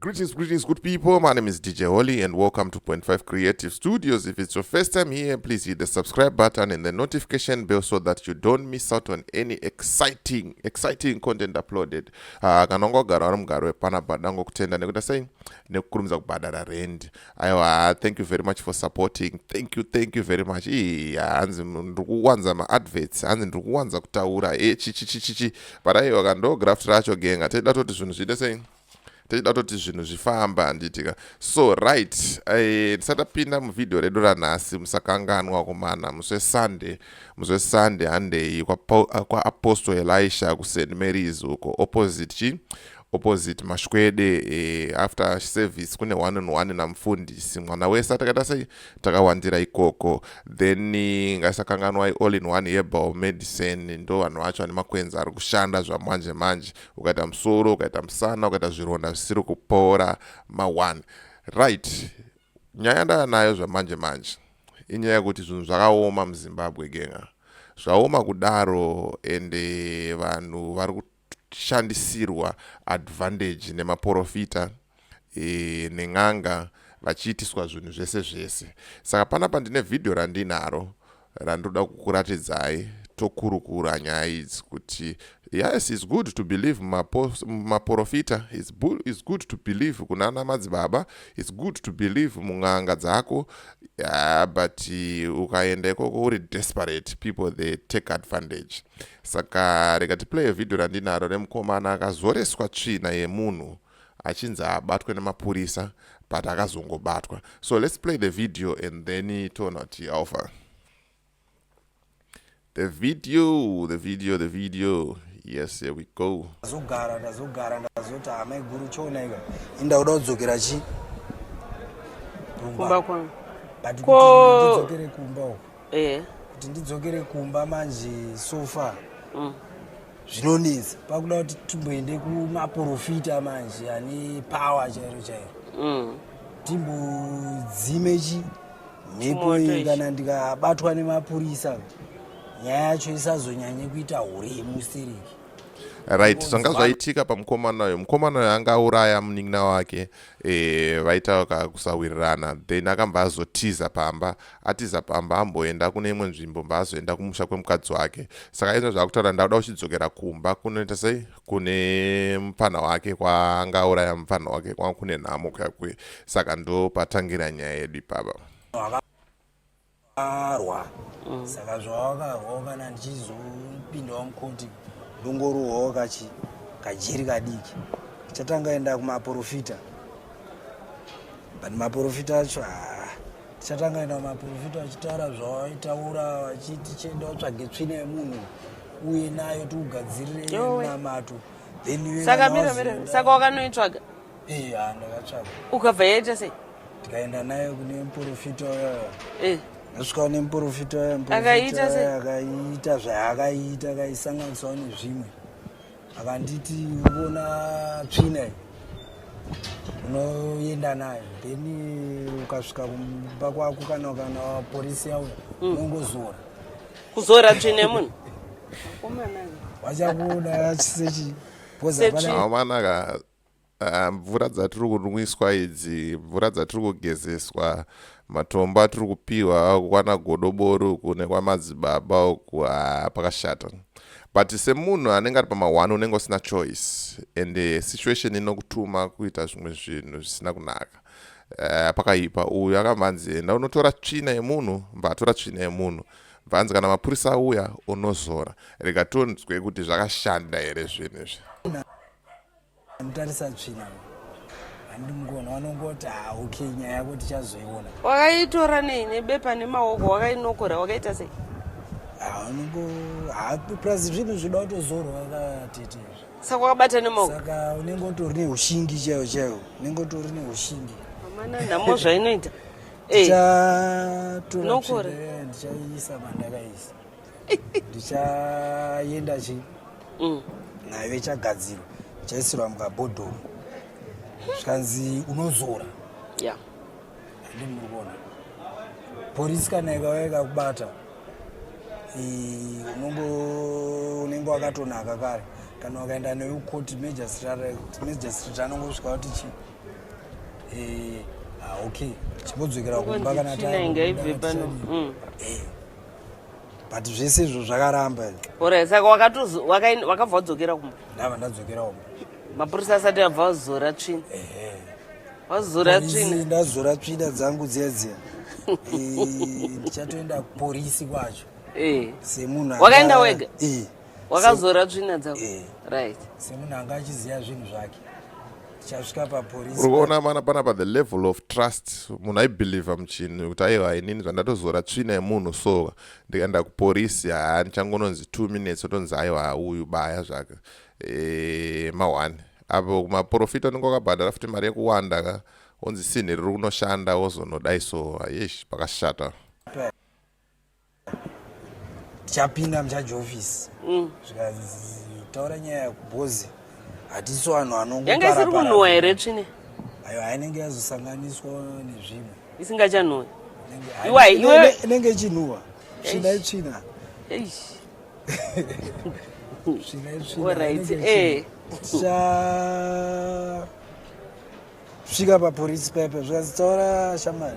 Greetings, greetings, good people. My name is DJ Holly, and welcome to Point Five Creative Studios. If it's your first time here, please hit the subscribe button and the notification bell so that you don't miss out on any exciting, exciting content uploaded. Ah, kana ungagara vari mugaro wepana bhada ngokutenda nekuita sei nekukurumidza kubhadhara rend. Aiwa, thank you very much for supporting. Thank you, thank you very much. Ii, hanzi ndiri kuwanza maadverts, hanzi ndiri kuwanza kutaura. E, eh, chichichichichi. But aiwa, kandoo graft racho genga. Tenda toti zvinhu zviite sei. tichida toti zvinhu zvifamba handitika so right eh, tisatapinda uh, muvhidhiyo redu ranhasi musakanganwa kumana muswe sunday muswe sunday handei kwaapostle kwa elisha kust marys uko opposite chi opposite mashwede eh, after service kune one on one namufundisi mwana wese atakaita sei takawandira ikoko then eh, ngaisakanganwa all in one herbal medicine ndo vanhu vacho vane makwenzi ari kushanda zvamanje manje ukaita musoro ukaita musana ukaita zvironda zvisiri kupora ma1 right nyaya ndava nayo zvamanje manje inyaya yekuti zvinhu zvakaoma muzimbabwe genga zvaoma kudaro ende vanhu vari kushandisirwa advantage nemaporofita e, nen'anga vachiitiswa zvinhu zvese zvese saka panapa ndine vhidhiyo randinaro randinoda kukuratidzai tokurukura nyaya idzi kuti yes is good to believe mumaporofita is good to believe kunana madzibaba is good to believe mun'anga dzako yeah, but uh, ukaenda ikoko uri desperate people they take advantage saka rega tiplaye vhidhiyo randinaro remukomana akazoreswa tsvina yemunhu achinzi abatwe nemapurisa but akazongobatwa so let's play the video and then toona kuti alpha the video the video the video yes here we go ndazogara ndazogara ndazoti hama iguru choona ika inda kuda kudzokera chi kumba kwangu but ko ndidzokere kumba uko eh kuti ndidzokere kumba manje so far mm. zvinonetsa pakuda kuti timboende kumaprofita manje ane power chairo chairo mm. timbodzime chi mhepo iyi kana ndikabatwa nemapurisa nyaya yacho isazonyanye kuita hure yemustereki right zvanga zvaitika pamukomana uyo mukomana uyo anga auraya munin'ina wake e, vaita kakusawirirana then akambva azotiza pamba atiza pamba amboenda kune imwe nzvimbo mba azoenda kumusha kwemukadzi wake saka izvo zvaakutaura ndakuda uchidzokera kumba kunoita sei kune mupfanha wake kwaanga auraya mupfanha wake kwanga kune nhamo kuya kuye saka ndo patangira nyaya yedu ipapa arwa mm. saka zvavakarwa kana ndichizopindawo mukoti ndongorohwawo kachi kajeri kadiki chatanga enda kumaporofita but maporofita acho haa tichatanga ina maprofita vachitaura zvavaitaura vachiti chienda vatsvage tsvina yemunhu uye nayo tiugadzirire namato thensaka mira mira saka wakanoitsvaga ee ha ndakatsvaga ukabva yaita sei tikaenda nayo kune muprofita uyoyo eh. ndosvikawo nemuprofita uyoakaita akaita zvaakaita akaisanganiswawo nezvimwe akanditi ubona tsvina unoenda nayo then ukasvika kumba kwako kana kana porisi yauya hmm. unongozora kuzora tsvina yemunhu vachakuona sechi Ah, mvura dzatiri kunwiswa idzi mvura dzatiri kugezeswa matombo atiri kupiwa kwana godobori uku nekwamadzibaba uku ah, pakashata but semunhu anenge ari pamahwani unenge usina choice and eh, situation inokutuma kuita zvimwe zvinhu zvisina kunaka eh, pakaipa uyu akabva anzi enda unotora tsvina yemunhu mva atora tsvina yemunhu bvanzi kana mapurisa auya unozora rega tonzwe kuti zvakashanda here zvinhu izvi Anotarisa tsvina handi mukona wanongoti ha ah, okay nyaya yako tichazoiona. Wakaitora nei nebepa nemaoko wakainokora wakaita sei? Anongo ah, ah, plus zvinhu zvinoda kutozorwa katete. Saka wakabata nemaoko. Saka unenge utori neushingi chaiwo chaiwo. Unenge utori neushingi. Amana nhamo zvainoita. Eh. Ndichatora tsvina ndichaisa mandakaisa. ndichaenda chi mm. nayo ichagadzirwa ichaisirwa mukabhodhoro zvikanzi unozora ya ndi muri kuona porisi kana ikauya ikakubata unongo unenge wakatonaka kare kana wakaenda nayo kukoti majistrate anongosvika kuti chii eh, ah, okay chimbodzokera kumba kana tainge ibve pano mm. eh. but zvese izvo zvakaramba ore saka wakabva wadzokera kumba ndava ndadzokera kumba mapurisa asati abva wazora tsvina wazora tsvina ndazora tsvina dzangu dziya dziya ndichatoenda kuporisi kwacho eh. semunhu wakaenda wega eh. wakazora tsvina dzako eh. right semunhu anga achiziva zvinhu zvake tichasvika papolice uri kuona mana panapa the level of trust munhu aibelieve muchinhu kuti aiwa inini zvandatozora tsvina yemunhu so ndikaenda kupolice haa ndichangononzi two minutes otonzi aiwa uyu baya zvake e, maone apo kumaprofita unenge wakabhadhara futi mari yekuwanda ka onzi sinhi riri kunoshanda wozonodai so yesh pakashata tichapinda muchaji office mm. zvikataura nyaya yakubhozi hatiso vanhu anonganga isiri kunhuwa here tsvine ayo ainenge yazosanganiswa nezvimwe isingachanhuwa inenge ichinhuwa tsvina itsvina tsvina itsvina svika papolisi pepe zvikazitaura shamari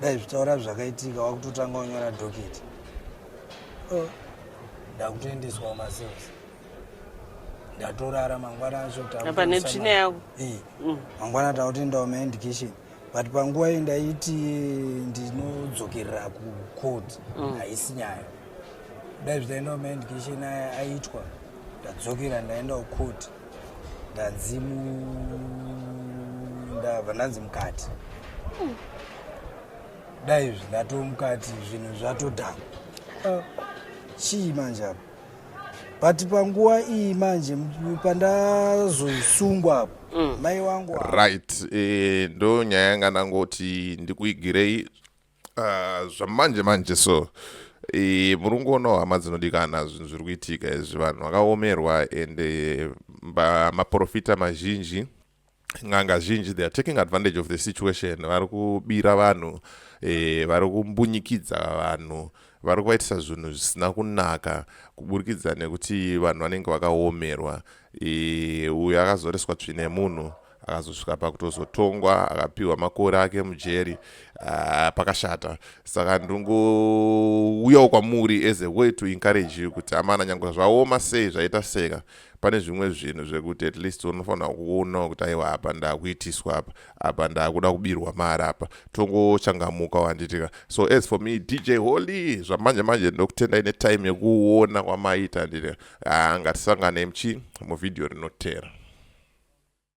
dai zvitaura zvakaitika wakutotanga unyora doketi oh. ndakutoendeswawo masales ndatorara mangwana acho apa netsvina yavo mm. mangwana takutoendawo maendication but panguva iyi ndaiti ndinodzokerera kucourt mm. haisi nyaya dai zvitaendawo maendication aya aitwa ndadzokera ndaendawo court ndadzimu ndava ndanzi mukati hmm. dai izvi ndatomukati zvinhu zvatodhama ah. chii manje apo but panguva iyi manje pandazoisungwa apo mm. mai wangu right eh, ndo nyaya yanga ndangoti ndikuigirei Ah, zvamanje manje so e, muri kungoonawo hama dzinodikana zvinhu zviri kuitika izvi vanhu vakaomerwa and eh, maprofita mazhinji n'anga zhinji they are taking advantage of the situation vari kubira vanhu e, vari kumbunyikidza vanhu vari kuvaitisa zvinhu zvisina kunaka kuburikidza nekuti vanhu vanenge vakaomerwa e, uyo akazoreswa tsvine munhu akazosvika pakutozotongwa akapiwa makore ake mujeri uh, pakashata saka ndingouyawo kwamuri as a way to encourage you kuti amana nyange zvaoma sei zvaita seka pane zvimwe zvinhu zvekuti at least unofanira kuonawo kuti aiwa apa ndakuitiswa apa apa ndakuda kubirwa mari apa tongochangamuka wanditika so as for me dj holy zvamanje manje ndokutendai netime yekuona kwamaita nditi ah, ngatisangane mchi muvhidhiyo rinotera